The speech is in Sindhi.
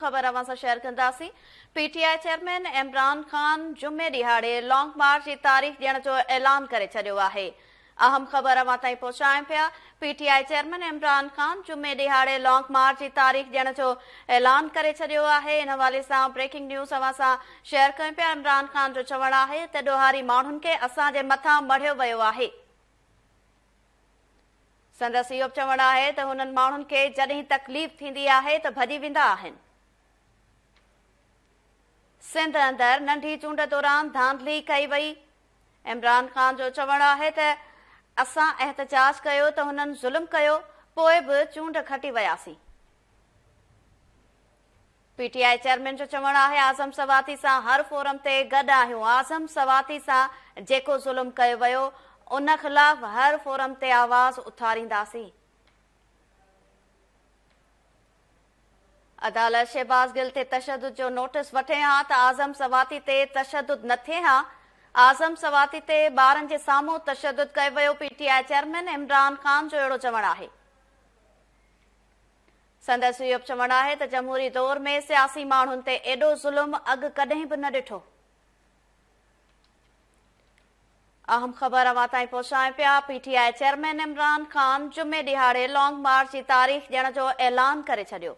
خبر اوهان سان شيئر ڪنداسين. P T I chairman Imran Khan جمعي ڏهاڙي لانگ مارچ جي تاريخ ڏيڻ جو اعلان ڪري ڇڏيو آهي. اهم خبر اوهان تائين پهچايون پيا. P T I chairman Imran Khan جمعي ڏهاڙي لانگ مارچ جي تاريخ ڏيڻ جو اعلان ڪري ڇڏيو آهي. ان حوالي سان بريڪنگ نيوز اوهان سان شيئر ڪيون پيا. عمران خان جو چوڻ آهي ته ڏوهاري ماڻهن کي اسان جي مٿان مڙهيو ويو آهي. سندس اهو به چوڻ آهي ته هنن ماڻهن کي جڏهن تڪليف ٿيندي آهي ته ڀڄي ويندا آهن. سنڌ اندر ننڍي چونڊ دوران ڌانڌلي ڪئي وئي، عمران خان جو چوڻ آهي ته اسان احتجاج ڪيو ته هنن ظلم ڪيو، پوء به چونڊ کٽي وياسين. پي ٽي آء چيئرمين جو چوڻ آهي اعظم سواتي سان هر فورم تي گڏ آهيون، اعظم سواتي سان جيڪو ظلم ڪيو ويو ان خلاف هر فورم تي آواز اٿارينداسين. عدالت شهباز گل تي تشدد جو نوٽس وٺي ها ته اعظم سواتي تي تشدد نه ٿئي ها، اعظم سواتي تي ٻارن جي سامهون تشدد ڪيو ويو، P T I chairman Imran Khan جو اهڙو چوڻ آهي. سندس اهو به چوڻ آهي ته جمهوري دور ۾ سياسي ماڻهن تي ايڏو ظلم اڳ ڪڏهن به نه ڏٺو. اهم خبر اوهان تائين پهچائين پيا، P T I chairman Imran Khan جمعي ڏهاڙي لانگ مارچ جي تاريخ ڏيڻ جو اعلان ڪري ڇڏيو.